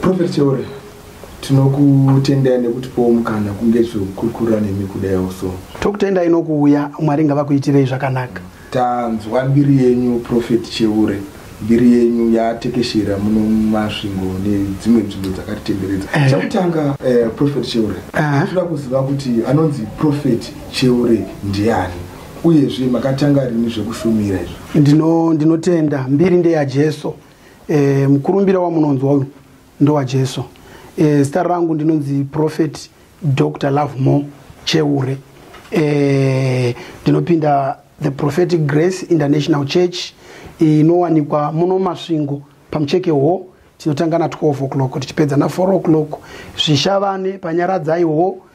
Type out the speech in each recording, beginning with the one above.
Prophet Chiore, tinokutendai nekutipowo mukana kunge zvekukurukura nemi kudaiwo so. Tokutendai nokuuya, Mwari ngavakuitirei zvakanaka. Tanzwa mbiri yenyu Prophet Cheure, mbiri yenyu yatekeshera muno muMasvingo nedzimwe nzvimbo dzakatitenderedza. Eh. Chekutanga eh, Prophet Cheure, Eh. tinoda kuziva kuti anonzi Prophet Cheure ndiani uyezve makatanga rini zvekushumira izvo. Ndino ndinotenda mbiri ndeyaJesu. e, mukurumbira wamunonzwa uyu ndowajesu e, eh, zita rangu ndinonzi prophet dr lovemore cheure e, ndinopinda the prophetic grace international church inowanikwa muno masvingo pamucheke hwo tinotanga na 12 o'clock tichipedza na 4 o'clock zvishavane panyaradzai hwo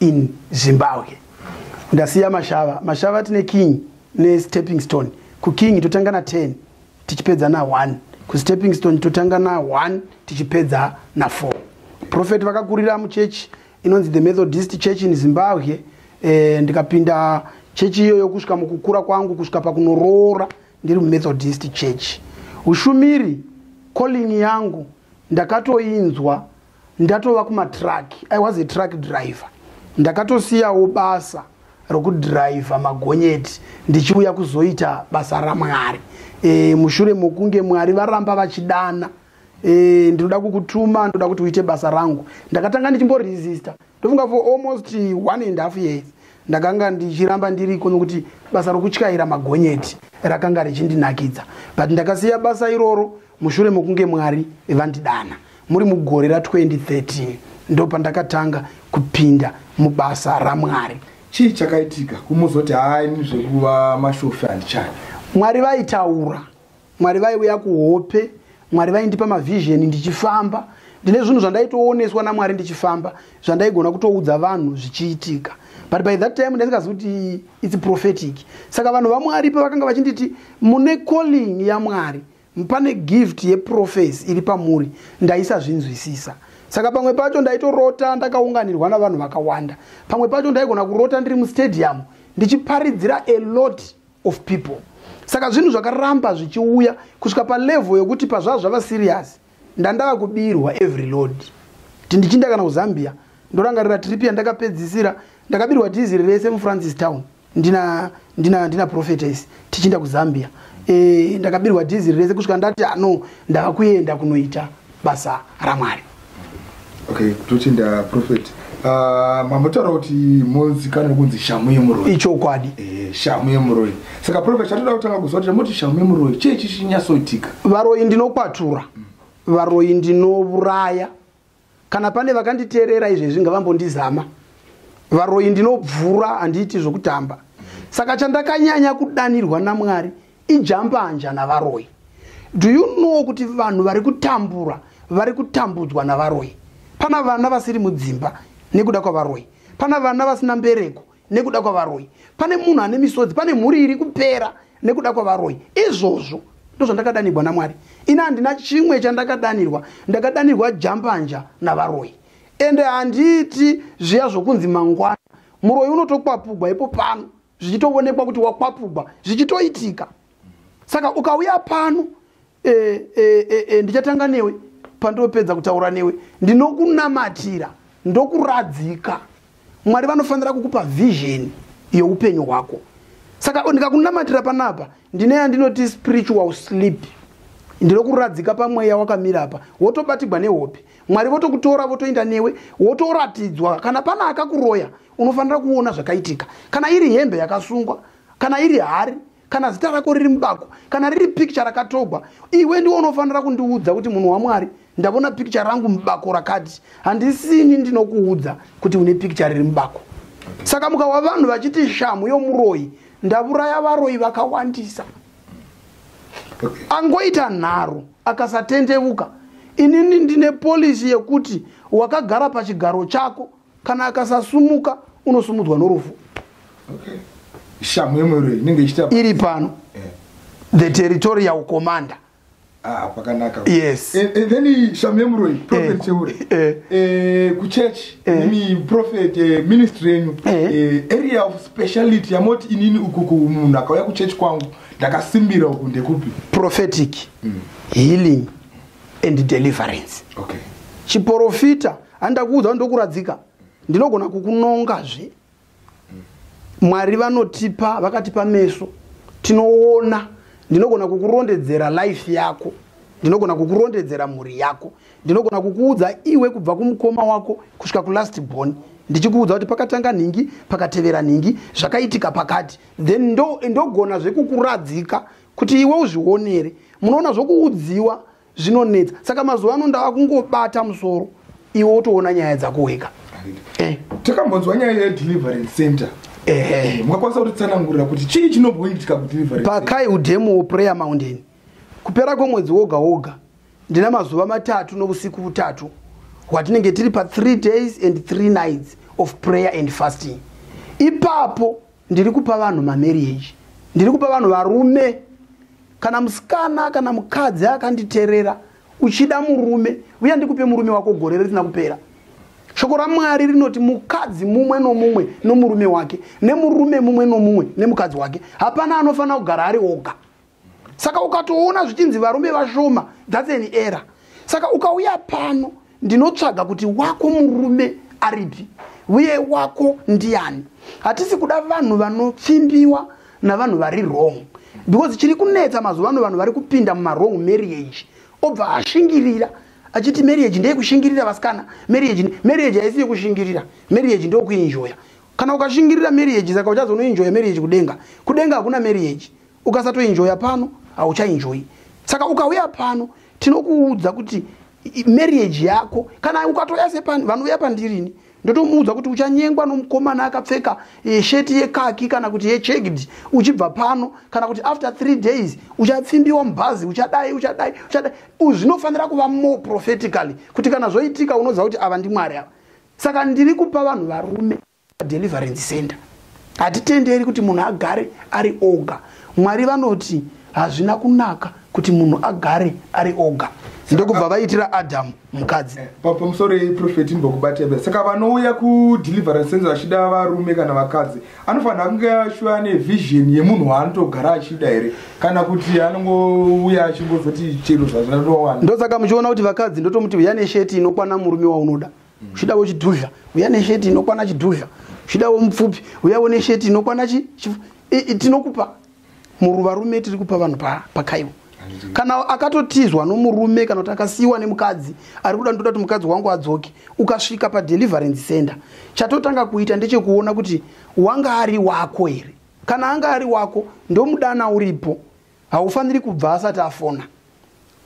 in zimbabwe ndasiya mashava mashava tine king nestepping stone kuking totanga na 10 tichipedza na 1 kustepping stone totanga na 1 tichipedza na 4 profet vakakurira muchechi inonzi the methodist church in zimbabwe e, ndikapinda chechi iyoyo kusvika mukukura kwangu kusvika pakunoroora ndiri mumethodist church ushumiri calling yangu ndakatoinzwa ndatova kumatruck i was a truck driver ndakatosiyawo basa rokudhiraivha magonyeti ndichiuya kuzoita basa ramwari e, mushure mokunge mwari varamba vachidana e, ndinoda kukutuma ndoda kuti uite basa rangu ndakatanga ndichimboresista ndofunga for almost one and half years ndakanga ndichiramba ndiriko nokuti basa rokutyaira magonyeti rakanga richindinakidza but ndakasiya basa iroro mushure mekunge mwari vandidana muri mugore ra 2013 ndopandakatanga kupinda mubasa ramwari chii chakaitika kumuzoti haini zvekuva mashofi handichani mwari vaitaura mwari vaiuya kuhope mwari vaindipa mavhizheni ndichifamba ndine zvinhu zvandaitooneswa namwari ndichifamba zvandaigona kutoudza vanhu zvichiitika but by that time ndaisingazi kuti its prophetic saka vanhu vamwari pavakanga vachinditi mune calling yamwari pane gift yeprofesi iri pamuri ndaisazvinzwisisa saka pamwe pacho ndaitorota ndakaunganirwa navanhu vakawanda pamwe pacho ndaigona kurota ndiri mustadium ndichiparidzira a lot of people saka zvinhu zvakaramba zvichiuya kusvika palevel yokuti pazvava zvava serious ndandava kubirwa every load ti ndichinda kana kuzambia ndorangarira trip yandakapedzisira ndakabirwa dhiziri rese mufrancis town ndina ndina ndina prophetess tichienda kuzambia e, ndakabirwa dhiziri rese kusvika ndati ano ndava kuenda kunoita basa ramwari okay tochinda prophet uh, ah, mambotaura kuti mozikana nokunzi shamu yemuroi ichokwadi e, shamu yemuroi saka prophet chatoda kutanga kuziva kuti chamoti shamu yemuroi chii chichinyasoitika varoi ndinokwatura mm. varoi ndinouraya kana pane vakanditeerera izvezvi ngavambondizama varoyi ndinobvura handiiti zvokutamba saka chandakanyanya kudanirwa namwari ijambanja navaroyi do you know kuti vanhu vari kutambura vari kutambudzwa navaroyi pana vana vasiri mudzimba nekuda kwavaroyi pana vana vasina mbereko nekuda kwavaroyi pane munhu ane misodzi pane mhuri iri kupera nekuda kwavaroyi izvozvo ndozvandakadanirwa namwari ini handina chimwe chandakadanirwa ndakadanirwa jambanja navaroyi ende handiiti zviya zvokunzi mangwana muroyi unotokwapugwa ipo pano zvichitoonekwa kuti wakwapugwa zvichitoitika saka ukauya pano e, e, e, e, ndichatanga newe pandopedza kutaura newe ndinokunamatira ndokuradzika mwari vanofanira kukupa vision yeupenyu hwako saka ndikakunamatira panapa ndine yandinoti spiritual sleep ndinokuradzika pamweya wakamira apa wotobatigwa nehope mwari votokutora votoenda newe wotoratidzwa kana pana akakuroya unofanira kuona zvakaitika kana iri hembe yakasungwa kana iri hari kana zita rako riri mubako kana riri picture rakatogwa iwe ndiwe unofanira kundiudza kuti munhu wamwari ndavona picture rangu mubako rakati handisini ndinokuudza kuti une picture riri mubako saka mukawa vanhu vachiti shamhu yomuroyi ndavuraya varoyi vakawandisa angoita nharo akasatendevuka inini ndine polisi yekuti wakagara pachigaro chako kana akasasumuka unosumudzwa norufu shamhu yemwero inenge ichita iri pano eh. the territorial commander ah, pakanaka yes eh, eh, then shamhu yemuroi prophet cheure kuchurch imi prophet ministry yenyu area of speciality yamoti inini ukuku munhu akauya kuchurch kwangu ndakasimbira uku ndekupi prophetic mm. healing and deliverance okay chiporofita handakuudza kuti ndokuradzika ndinogona kukunongazve mwari vanotipa vakatipa meso tinoona ndinogona kukurondedzera life yako ndinogona kukurondedzera mhuri yako ndinogona kukuudza iwe kubva kumukoma wako kusvika kulast born ndichikuudza kuti pakatanga nhingi pakatevera nhingi zvakaitika pakati then ndogona ndo zveku kuradzika kuti iwe uzvionere munoona zvokuudziwa zvinonetsa saka mazuva ano ndava kungobata musoro iwe wotoona nyaya dzako wega eh. takambonzwa nyaya yedeliverance center eh. mukakwanisa kutitsanangurira kuti chii chinobhoitika kudeliverance pakai udemo woprayer mountain kupera kwemwedzi woga woga ndina mazuva matatu novusiku vutatu hwatinenge tiri pa3 days and 3 nights of prayer and fasting ipapo ndiri kupa vanhu mamarriage ndiri kupa vanhu varume kana musikana kana mukadzi akanditerera uchida murume uya ndikupe murume wako gore risina kupera shoko ramwari rinoti mukadzi mumwe nomumwe nomurume wake nemurume mumwe nomumwe nemukadzi wake hapana anofanira kugara ari oga saka ukatoona zvichinzi varume vashoma thats an error saka ukauya pano ndinotsvaga kuti wako murume aripi uye wako ndiani hatisi kuda vanhu vanopfimbiwa navanhu vari wrong because chiri kunetsa mazuva ano vanhu vari kupinda mumawrong marriage obva ashingirira achiti marriage ndeyekushingirira vasikana marriage marriage haisi yekushingirira marriage ndeyokuinjoya kana ukashingirira marriage saka uchazonoinjoya marriage kudenga kudenga hakuna marriage ukasatoenjoya pano hauchaenjoyi saka ukauya pano tinokuudza kuti marriage yako kana ukatouya sepani vanouya pandirini ndotomuudza kuti uchanyengwa nomukomana akapfeka eh, sheti yekaki kana kuti yechegdi uchibva pano kana kuti after three days uchapfimbiwa mubhazi uchadai uchadai uchadai zvinofanira kuva more prophetically kuti kana zvoitika unoziva kuti ava ndimwari ava saka ndiri kupa vanhu varume deliverance center hatitenderi kuti munhu agare ari oga mwari vanoti hazvina kunaka kuti munhu agare ari oga ndokubva vaitira adamu mukadzi eh, pamusoro yeprofeti mbokubatebe saka vanouya kudeliverance center vachida varume kana vakadzi anofanira kunge ashuva ane vision yemunhu waanotogara achida here kana kuti anongouya achingozoti chero zvazvinatowana ndosaka muchiona kuti vakadzi ndotomuti huyane sheti inokwana murume waunoda zvidawo chidhudhla uya nesheti inokwana chidhudhla zvidawo mupfupi uyawo nesheti inokwana chi tinokupa muruvarume tiri kupa vanhu pakaiwa kana akatotizwa nomurume kana kuti akasiyiwa nemukadzi ari kuda ndoda kuti mukadzi wangu adzoke ukasvika padeliverance center chatotanga kuita ndechekuona kuti wanga ari wako here kana anga ari wako ndomudana uripo haufaniri kubva asati afona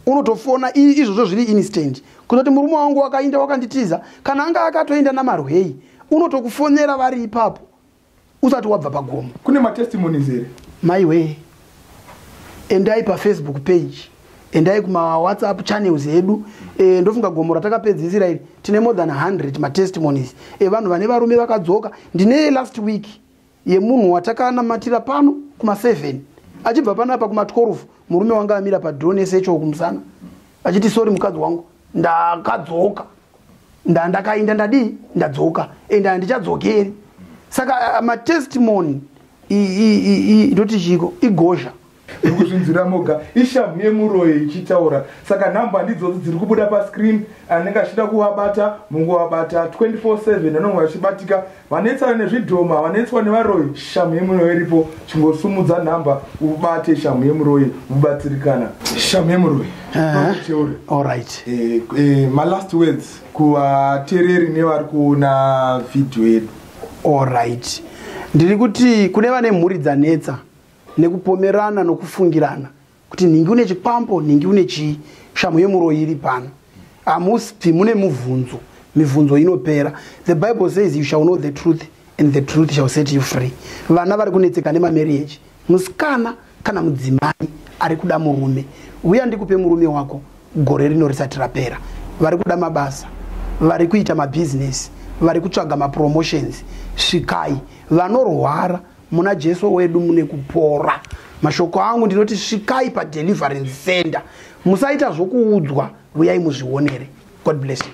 unotofona izvozvo zviri instant kuzoti murume wangu wakainda wakanditiza kana anga akatoinda namarwei unotokufonera vari ipapo usati wabva pagomo kune matestimonies here maiwee endai pafacebook page endai kumawhatsapp channels edu e, ndofunga gomo ratakapedzisira iri tine more than 100 matestimonies evanhu vane varume vakadzoka ndine last week yemunhu watakanamatira pano kuma 7 achibva panapa kuma 12 murume wanga amira padhoo nesecho kumusana achiti sori mukadzi wangu ndakadzoka ndandakainda ndadii ndadzoka and handichadzokeri saka uh, matestimony ndoti chiko igozha iri kuzvinzwira moga ishamhu yemuroyi ichitaura saka nhamba ndidzodzi dziri kubuda pascreen anenge achida kuvabata munguvabata 24/7 anonge vachibatika vanetsana nezvidhoma havanetswa nevaroyi shamhu yemuroyi iripo chingosumudza nhamba ubate shamhu yemuroyi mubatsirikana shamhu yemuroyi olright eh, eh, malast words kuvatereri nevari kuona vhidhiyo yedu olright ndiri kuti kune vane mhuri dzanetsa nekupomerana nokufungirana kuti nhingi une chikwambo nhingi une chii shamhu yemuroyi iri pano hamusipi mune mubvunzo mibvunzo inopera the bible says you shall know the truth and the truth shall set you free vana vari kunetseka nemamariage musikana kana mudzimai ari kuda murume uya ndikupe murume wako gore rino risati rapera vari kuda mabasa vari kuita mabhizinesi vari kutsvaga mapromotions svikai vanorwara muna jesu wedu mune kupora mashoko angu ndinoti svikai padeliverance center musaita zvokuudzwa vuyai muzvionere god bless you